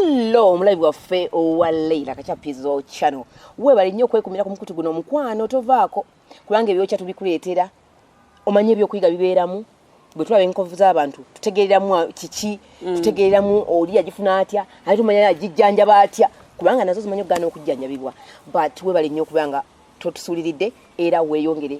hello omulabi waffe owa leila kachapizo channel webale nnyo okwekumira ku mukutu guno omukwano tovaako kubanga ebyokya tubikuleetera omanye ebyokuyiga bibeeramu bwe tulaba enkovu z'abantu tutegeereramu kiki mm. tutegeereramu oli agifuna atya ate tumanya agijjanjaba atya kubanga nazo zimanyi okugaana okujjanjabibwa but webale nnyo okubanga totusuuliridde era weeyongere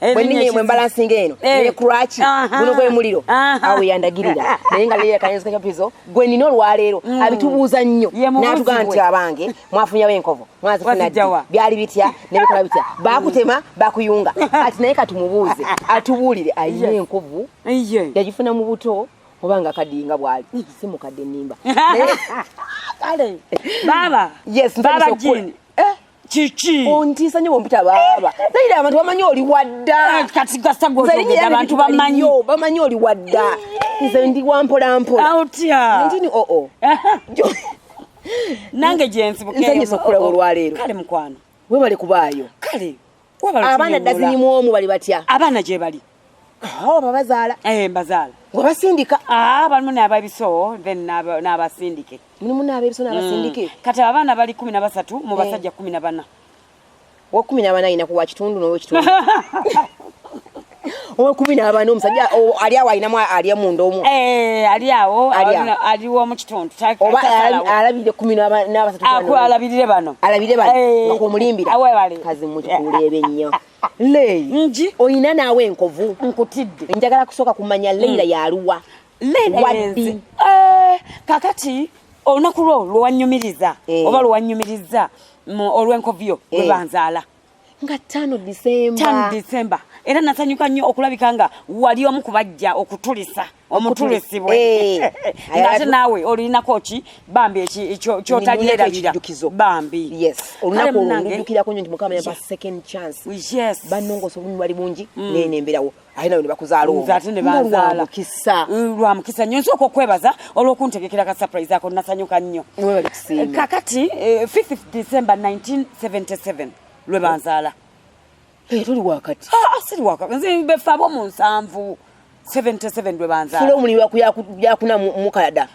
Eh, bwenina emwe mbalansinga eno eh. nekulwaki guno gwe muliro awo yandagirira naye nga leero kayinzika kyapizo gwe nina olwaleero mm. abitubuuza nnyo natugaa nti abange mwafunyawo enkovu mwazifuna ddi byali bitya nebikola bitya bakutema bakuyunga ati naye katumubuuze atubuulire ayina enkovu yagifuna mu buto oba nga kadinga bwali mm. si mukadde nimba kale baba yes baba jini kiki ontiisa nyo bompita baaba naye abantu bamanyi oli wadda eh, kati gasa gwozogeda abantu bamanyi bamanyi oli wadda nze ndi wampola mpola otya ndini oo oh, oh. nange gyensibukeyo nze nyisa okukula olwaleero kale mukwano webale kubaayo kale abaana ddazini mu omu bali batya abaana gye bali awo babazaala eh, mbazaala nga basindika ah, balimu n'ababiso then n'abasindike mulimu n'ababiso n'abasindike mm. kati abaana bali kumi na basatu mu eh. basajja kumi na bana wa kumi na bana ayina kuwa kitundu n'owekitundu owekumi nabana omusajja ali awo alinamu ali emunda omu eh, ali awo aliwo omukitundu oba alabirire kumi nabasatu alabirire bano alabirire bano eh. akumulimbira kazi mukikuleebe nnyo leyi nji oyina naawe enkovu nkutidde njagala kusooka kumanya leira hmm. yaluwa waddi eh, kakati olunaku lwo lwewanyumiriza oba lwewanyumiriza olwenkovu yo lwebanzaala nga tano disemba tano disemba era nasanyuka nnyo okulabika nga wali omu kubajja okutulisa omutulisibwe eh. nga ate naawe olinako ki bambi kyotalierabira bambi olunaku olwo ndijukirako nyo nti mukama yampa second chance banongosa obunyumu bali bungi mm. neyemberawo aye nawe nebakuzaala omu ate nebanzaala kisa mm, lwa mukisa nnyo nsooka okwebaza olw'okuntegekera ka surprise ako nasanyuka nnyo eh, kakati 5 eh, december 1977 lwe banzaala eh, tuli wakati ah, ah, siri wakati nze befaabo mu nsanvu 77 lwe banzaala fula omulimu yakunamukada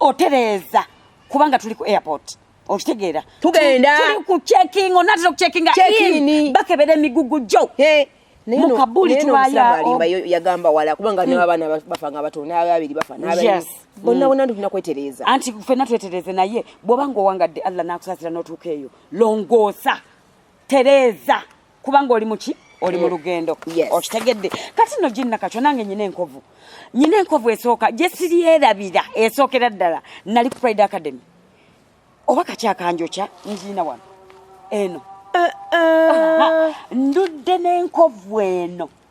otereeza kubanga tuli ku airport okitegeera tugenda tuli ku checking onatera okucheckinga in bakebera emigugu gyo mukabuli tubayalimba yagamba wala kubanga hmm. nabaana bafa nga batono nababiri bafa bonna hmm. bonna ndi tulina kwetereeza anti fenna twetereeze naye bw'oba nga owangadde allah n'akusasira n'otuuka eyo longoosa tereeza kubanga oli muki oli mu mm. lugendo okitegedde kati no ginna kakyo nange nyina enkovu nyina enkovu esooka gye siryerabira esookera ddala nali ku pride academy oba kakyakanjokya ngiina wano eno eh, eh. ndudde n'enkovu eno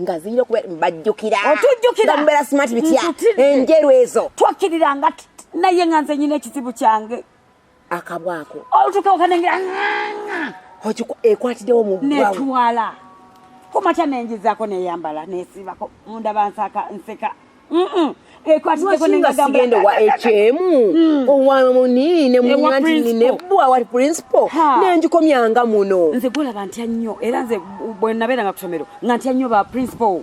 nga zirina okuba bajjukira otujjukira mubeera smart bitya enjeru ezo twakkirira nga naye nga nze nyina ekizibu kyange akabwako olutuka okanengera ekwatidewo mu netwala kumakya nenjizako neyambala nesibako munda bansaka nseka ekwatigekonengagambasigenda wa ekyemu hmm. owamuniine munyantinine bwa wa principal nenjikomyanga muno nze golaba ntya nnyo era nze bwenabeera nga kusomero nga ntya nnyo ba principal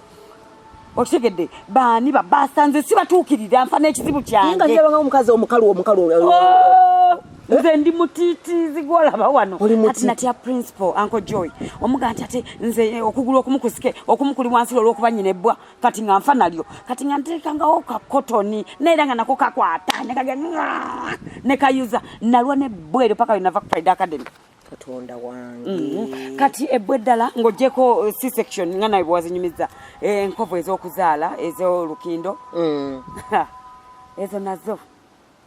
okitegedde baani babasa nze sibatuukirira nfa n'ekizibu kyangeaanga omukazi omukalu omukalu oh, nze ndi mutitizi gwolaba wano ati natya principal anko joy omuga nti ate nze okugulu okumukusike okumukuli wansi olwokuba nyina ebbwa kati nga nfa nalyo kati nga nteekangawo ka kotoni naye era nga nako kakwata nekage nekayuza nalwa nebweero paka wenava ku pride academy katonda wange mm-hmm. kati ebbwa eddala ng'ogyeko uh, c section nga nawe bwewazinyumiza eh, enkovu ez'okuzaala ez'olukindo mm. ezo nazo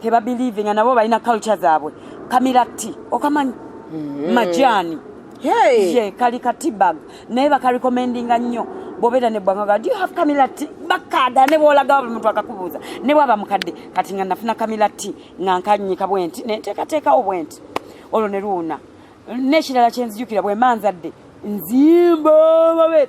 teba believe nga nabo balina culture zaabwe kamilati okamanyi mm. majani hey. ye kali katibag naye bakarekomendinga nnyo bobera ne bwanga ga do you have camila tea bakada ne bolaga buli muntu akakubuza ne bwaba mukadde kati nga nafuna camila tea nga nkanyika bwenti ne teka teka obwenti olwo ne luuna ne kirala kyenzijukira bwe manzadde nzimba babe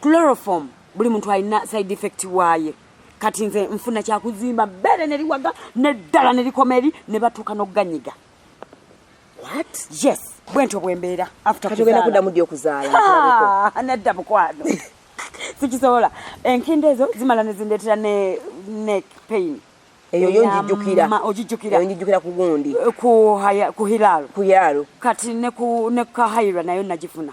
chloroform buli muntu alina side effect waaye kati nze nfuna kyakuzimba bbeere ne liwaga neddala ne likoma eri ne batuuka n'okuganyiga yes bwe ntyo bwe mbeera afterogenda kuddamu ddi okuzaala ah, nedda mukwano sikisobola enkindo ezo zimala ne zindeetera ne neck pain eyo yo njijjukira ogijjukira eyo njijjukira ku gundi eh, ku haya ku hilal ku yalo kati ne ku ne kahayira nayo najifuna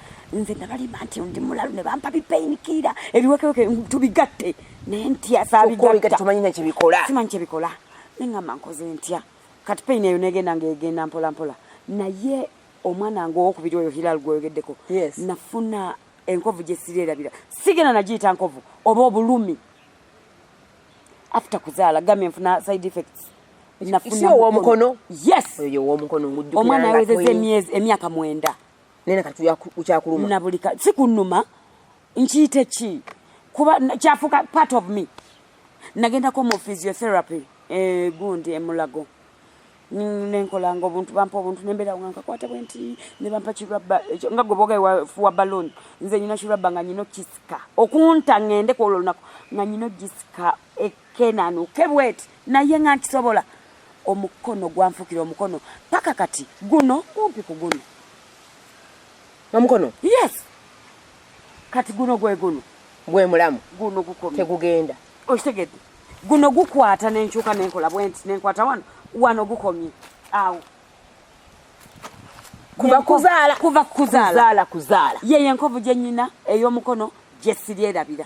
nze nabalimba nti ndi mulalu ne bampa bipeyinikiira ebiwekeweke tubigatte naye ntya sabigattatumanyi nekyebikola simanyi kyebikola neŋamba nkoze ntya kati peyini eyo negenda ngaegenda mpolampola naye omwana nga owokubiri oyo hilal gweyogeddeko nafuna enkovu gyesirerabira sigenda nagiyita nkovu oba obulumi after kuzaala gamye nfuna side effects nafunaowomukono yes omwana awezeza emyaka mwenda nene kati kyakuluma na buli kati sikunuma nkiyite ki kuba kyafuka part of me nagendako mu physiotherapy eh, gundi emulago nenkolanga obuntu bampa obuntu nembeera nga nkakwata bwenti nebampa kirabba nga gwe boga wafuwa baloni nze nyina kirabba nga nyina okisika okunta ngende kwolwo lunaku nga nyina okisika kenanuke bweti naye nga nkisobola omukono gwanfukira omukono paka kati guno kumpi ku guno omukono yes kati guno gwe guno gwe mulamu guno gukomye tegugenda okitegedde guno gukwata nenkyuka nenkola bwenti nenkwata wano wano gukomye awo kuva kuzaala kuva kuzaala kuzaala yeye enkovu gyenyina ey'omukono gyesiryerabira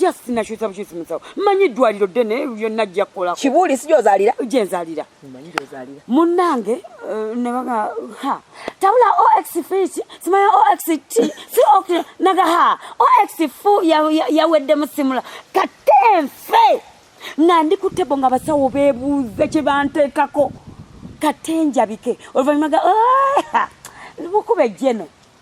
just nakyusa bukyusi musawo manyi eddwaliro ddene yonna jja kukolako kibuuli si gyozalira gyenzalira munnange eh, nebaga ha tabula ox fiti simanya ox t si ok naga ha ox fu yawedde musimula kate nfe nga ndi ku tebo nga abasawo bebuuze kye banteekako kate njabike oluvannyuma ga mukuba ejjeno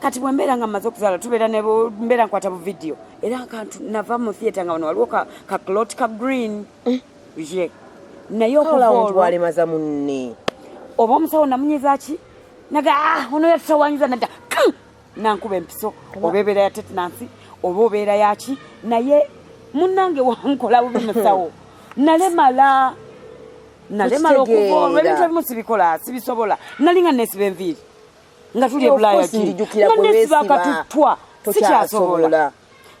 kati bwembeera nga mmaze okuzaala tubeera nembeera nkwata bu vidiyo era kantu nava mu theatre nga wano waliwo ka clot ka green eh. ye naye okuwalemaza munne oba omusawo namunyiza ki naga ah, ono yatutawanyiza nadda nankuba empiso oba ebeera ya tetenansi oba obeera yaki naye munange wankola bubi musawo nalemala nalemala okuva olwebintu ebimu sibikola sibisobola nalinga nesiba enviiri nga tuli ebulaaya kibakatuttwa sikyasobola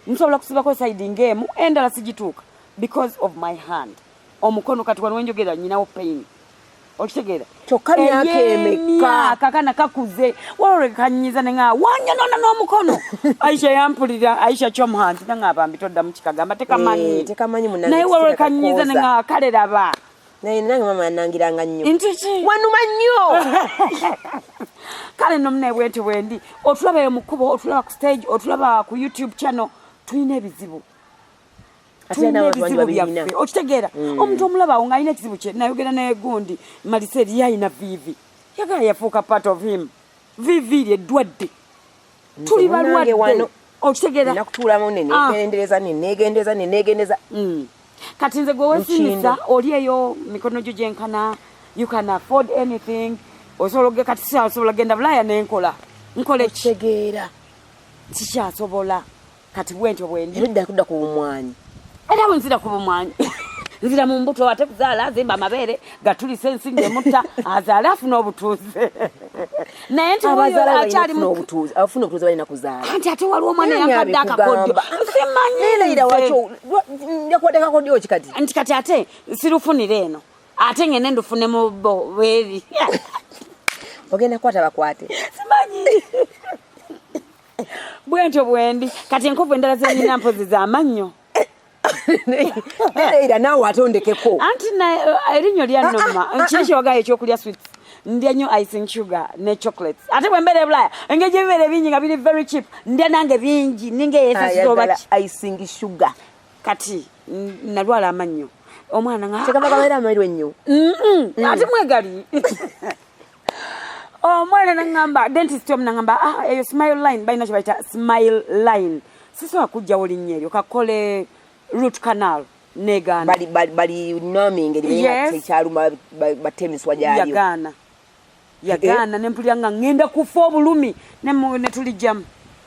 nsobola kusibako saidi ngaemu endala sigituuka because of my hand omukono kati wano wenjogera nyinawo pain okitegeera kyokka myaka emeka kakana kakuze walolekanyiza nenga wanyonona n'omukono aisha yampulira aisha kyomhanti nanga abambi toddamu kikagamba tekamanyi eh, naye walolekanyiza nenga kale laba naye nange mama yanangiranga nnyo wanuma nnyo kale no mune bwenti bwendi otulaba eyo mukubo otulaba ku stage otulaba ku youtube channel tulina ebizibu okitegeera mm. omuntu omulaba awo ngaalina ekizibu kye nayogera naye gundi malisa eriyo alina vivi yagala yafuuka part of him vivi ry eddwadde tuli balwadde wano okitegeera nakutuulamu nenegendereza ah. nenegendereza nenegendereza mm. kati nze gwe wesinisa oli eyo mikono gyo gyenkana you can afford anything osobola oge kati sikyasobola genda bulaaya nenkola nkola ekitegeera sikyasobola kati bwentyo bwendi eridda kudda ku bumwanyi era bwenzira ku bumwanyi nzira mu mbuto ate kuzaala azimba amabeere gatulisa ensi ngemutta azaale afuna obutuuze naye nti oyoakyalimubutuuzeafunaobutuuzebalinakuzaalaanti ate waliwo omwana yankadde akakodyo simanyiyakuwadekakodyo kikati nti kati ate sirufunire eno ate ngende ndufune mu bo bweri ogenda kukwata bakwate simanyi bwentyo bwendi kati enkovu endala zenyina mpozi zamannyo era naawe ate ondekeko anti eh, erinnyo lyannoma kiri kyogayo ekyokulya swits ndya nnyo icing sugar ne chocolates ate bwe mbeera ebulaya engeri gyebibeera ebingi nga biri very cheap ndya nange bingi ninga eyesasizoobaki icing sugar kati nalwala amannyo omwana nga kyekava kabeera amaliro ennyo ati mwegali omwana nangamba dentist omu nangamba ah, eyo smile line balina kyebayita smile line sisobola kujjawo linnya eryo kakole root canal negaana yagaana nempulira nga ngenda kufa obulumi netulijjamu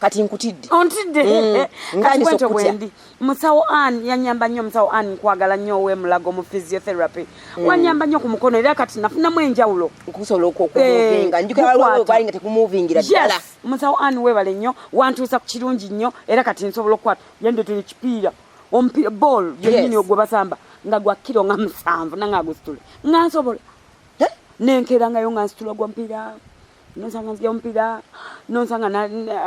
kati nkutidde ontidde mm. eh, kati bwentyo bwendi musawo an yanyamba nnyo musawo an nkwagala nnyo owemulago mu physiotherapy mm. wanyamba nnyo ku mukono era kati nafunamu enjawulo okusobola okumuvinga eh, njukiraalinga tekumuvingira ddala musawo an webale nnyo wantuusa ku kirungi nnyo era kati nsobola okukwata yendetera ekipiira omupiira ball yenyini ogwe basamba nga gwa kiro nga musanvu nanga agusitule nga nsobola eh? nenkerangayo nga nsitula gwa mupiira nonsanga nzija omupiira nonsanga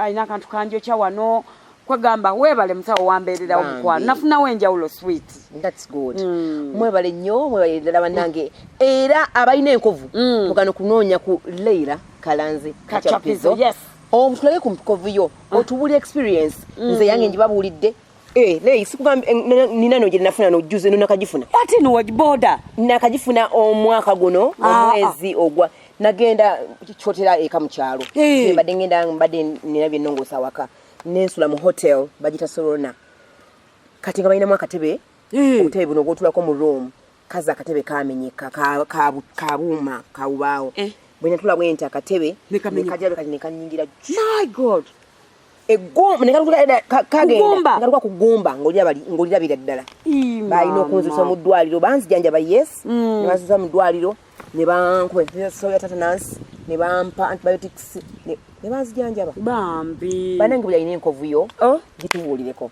alina akantu kanjokya wano kwegamba webale musawo wambeererawo mukwano nafunawo enjawulo sweet thats good mm. mwebale nnyo mwebale ddala banange era abalina enkovu mm. mugano kunoonya ku leira kalanzi kacapizo yes omutulage ku mikovu yo ah. otubuli experience mm. nze yange njibabuulidde Eh, naye sikugamba eh, nina no gyenafuna nojuze no nakagifuna ati no wajiboda nakagifuna omwaka guno ah, ah. omwezi ogwa nagenda kyotera eka mu kyalo mbadde ngenda mbadde nina byennongoosa awaka nensula mu hotel bagita sorona kati nga balinamu akatebe obutebe buno obwotulako mu room kazi akatebe kamenyeka kabuuma kawubaawo eh. bwenatula bwenti akatebe nekajabekati nekanyingira my god egumba nekagenda kugumba ngolirabira ddala balina okunzisa omudwaliro banzijanjaba yes mm. nebanzisa mudwaliro nebankubasoya tata nansi nebampa antibiotics nebanzijanjaba bambi banange buli alina enkovuyo oh. gitubuulireko